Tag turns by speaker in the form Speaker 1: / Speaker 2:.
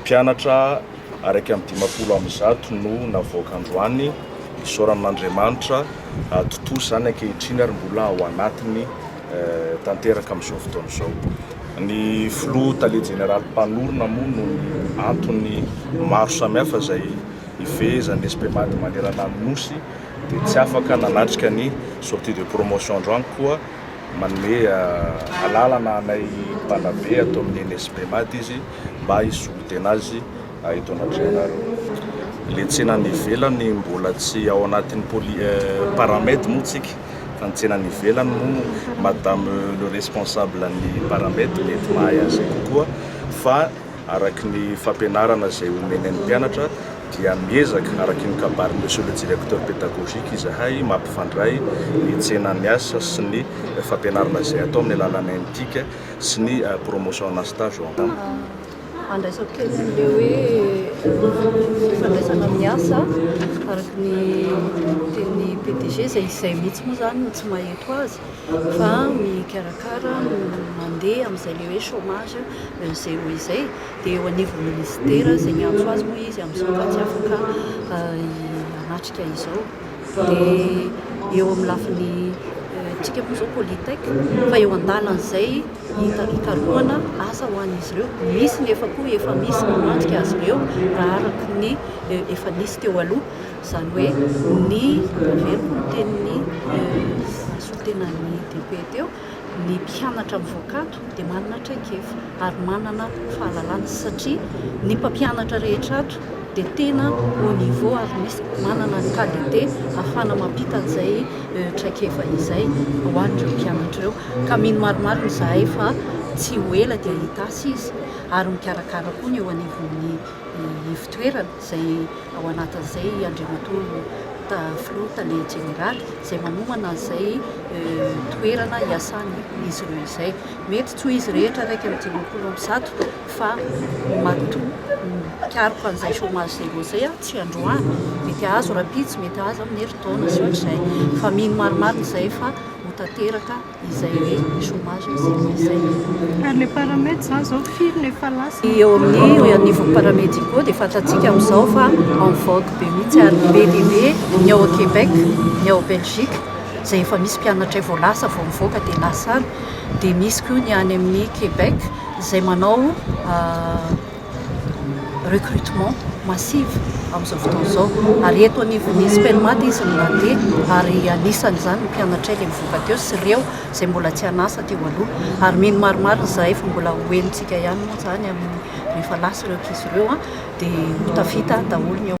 Speaker 1: Mpianatra araika amin'ny dimampolo amby zato no navoaka androany, isaorana an'Andriamanitra, tontosa izany ankehitriny ary mbola ao anatiny tanteraka amin'izao fotoana izao. Ny filoha tale jeneraly mpanorina moa noho ny antony maro samihafa izay ifehezan'ny SPMAD manerana ny Nosy dia tsy afaka nanatrika ny sortie de promotion androany koa manome alalana anay mpanabe ato amin'ny eny SPMAD izy mba hisolo tena azy eto anatrehanareo. Le tsena any ivelany mbola tsy ao anatin'ny poli paramed moa tsika fa ny tsena any ivelany moa madame le responsable ny paramed mety mahay an'izay kokoa fa araky ny fampianarana izay omeny an'ny mpianatra dia miezaka araky ny kabarin'i monsieur le directeur pédagogique izahay mampifandray ny tsena any asa sy ny fampianarana izay atao amin'ny alalan'ny NTIC sy ny promotion na stage ao am-ponja. Andraisako
Speaker 2: kely an'ilay hoe fifandraisana amin'ny asa, araka ny tenin'ny PDG, izay izay mihitsy moa izany no tsy maheto azy, fa mikarakara no mandeha amin'izay ilay hoe chômage zéro izay, dia eo anivon'ny minisitera izay miantso azy moa izy amin'izao fa tsy afaka hanatrika izao. dia eo amin'ny lafiny antsika moa izao politec fa eo an-dalan'izay hikarohana asa ho an'izy ireo, misy ny efa koa efa misy namantika azy ireo raha araka ny efa nisy teo aloha, izany hoe ny, raha very ny tenin'ny solontenan'ny DP teo, Ny mpianatra mivoaka ato dia manana traikefa ary manana fahalalana satria ny mpampianatra rehetra ato dia tena haut niveau ary misy manana ny KDT ahafahana mampita an'izay traikefa izay ho an'ireo mpianatra ireo ka mino marimarina izahay fa tsy ho ela dia hitasy izy ary mikarakara koa ny eo anivon'ny ivotoerana. izay ao anatin'izay i Andriamatoa Filoha Tale Jeneraly izay manomana izay toerana hiasan'izy ireo izay. Mety tsy ho izy rehetra iraika amby dimampolo amby zato fa matoa mikaroka an'izay chômage zéro izay aho tsy androany. Mety hahazo rahampitso, mety hahazo amin'ny herintaona sy ohatr'izay. Fa mino marimarina izay fa ho tanteraka. izay ny chomage ny saignan'ny saina. Ary le
Speaker 3: paramed zany zao firy no efa lasa? Ny eo amin'ny
Speaker 2: anivon'ny paramédicaux dia fantatsika amin'izao fa en vogue be mihitsy ary be dia be ny ao Québec, ny ao Belgique izay efa misy mpianatray vao lasa vao mivoaka dia lasa any, dia misy koa ny any amin'ny Québec izay manao recrutement massive amin'izao fotoana izao ary eto anivon'ny Spelmat izy no nandeha ary anisan'izany ny mpianatray ilay mivoaka teo sy ireo izay mbola tsy an'asa teo aloha ary mino maromaro izahay fa mbola ho henontsika ihany moa izany amin'ny rehefa lasa ireo ankizy ireo dia ho tafita daholo ny ao